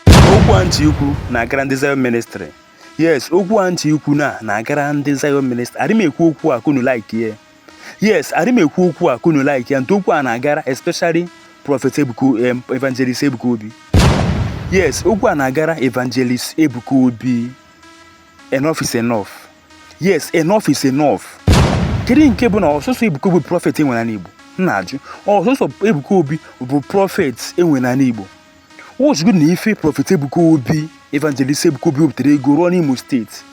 okwu a ntị ikwu na-agara ndị Zion ministry yes okwu a ntị ikwu na na-agara ndị Zion ministry adị m ekwu okwu a ka unu like ya yes adị m ekwu okwu a ka unu like ya ntu okwu a na-agara especially prophet Ebuka em, evangelist Ebuka Obi yes okwu a na-agara evangelist Ebuka Obi enough is enough yes enough is enough kedu nke bụ na ọ sọsọ Ebuka Obi bụ prophet e nwere n'ala Igbo m na-ajụ ọ sọsọ Ebuka Obi bụ prophet e nwere n'ala Igbo watchgodu nụ ife prophet Ebuka Obi evangelist Ebuka Obi wepụtara ego rụọ n'Imo steeti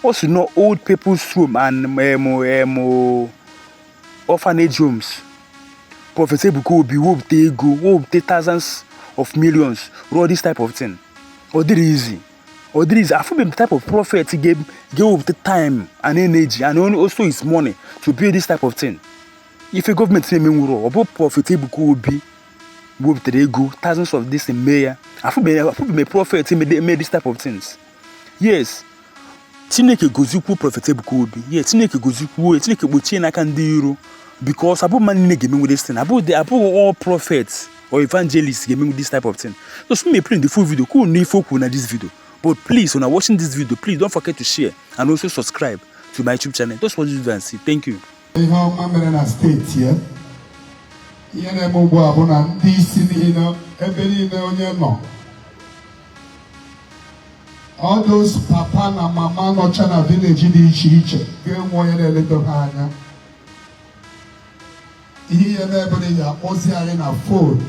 o si na old people's home and em em orphanage homes prophet Ebuka Obi wepụta ego wepụta thousands of millions rụọ this type of thing ọ dịrọ easy ọ dịrọ easy afụbeghị m type of prophet ga-ewepụta time and energy and only also his money to build this type of thing ife government na-emenwurọ ọ bụ prophet Ebuka Obi wepụtara ego thousands of this mee ya afụbeghị m prophet mee this type of things yes chineke gozikwuo prophet Ebuka Obi yes chineke gozikwuo ya chineke kpuchie ya n'aka ndị iro because abụghị mmadụ niile ga-emenwu this thing abụghị abụghị all prophets or evangelists ga-emenwu this type of thing so so m play the full video ka unu focus na this video but please una watching this video please don't forget to share and also subscribe to my YouTube channel. Just watch this video and see. Thank you. ihe ọma mere na steeti ya ihe na-eme ugbu a bụ na ndị isi niile ebe niile onye nọ all those papa na mama nọcha na vileji dị iche iche ga-enwe onye na-eleta ha anya ihe ihe na-emere ya o zie anyị na phone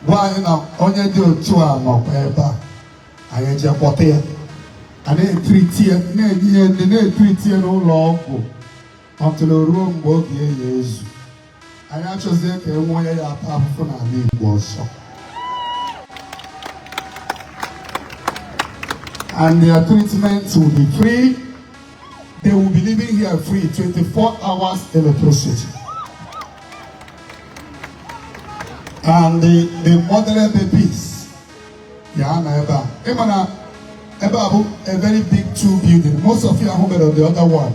gwa anyị na onye dị otu a nọkwa ebe a anyị eje kpọta ya a na-etriti ya na-enye ya ndị na-etriti ya n'ụlọ ọgwụ until o ruo mgbe oge ya ya-ezu anyị achọzighị ka e nwee onye ya-ata afụfụ n'ala Igbo ọzọ and their treatment will be free they will be living here free 24 hours electricity. And the, the mother babies, yeah, na ebe a. Ị ma na ebe a bụ a very big two building. Most of you are home on the other one.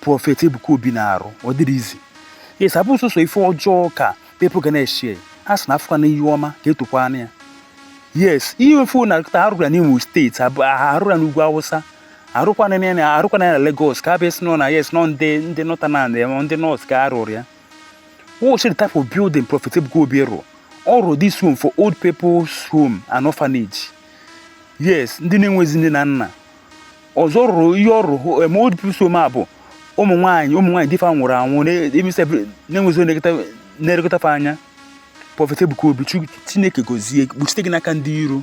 prophet Ebuka Obi na-arụ ọ dịrọ easy yes abụ sọsọ ife ọjọọ ka people ga na-ashare a sị na a fụkwanụ ihe ọma ka e tokwanụ ya yes ihe ofu na a rụrụ ya n'Imo steeti a rụrụ ya n'ugwu Awụsa arụkwana ya na arụkwana ya na Lagos ka a bịa sị na ọ na yes na ọ ndị ndị northern ya ndị north ka a rụrụ ya watch the type of building Prophet Ebuka Obi rụrụ ọ rụrụ this home for old people's home and orphanage yes ndị na-enwezi nne na nna ọzọ rụrụ ihe ọ rụrụ em old people's home a bụ ụmụ nwaanyị ụmụ nwaanyị di fa nwụrụ anwụ na-enwezi na-elekọta fa anya prophet Ebuka Obi Chineke gozie kpuchite gị n'aka ndị iro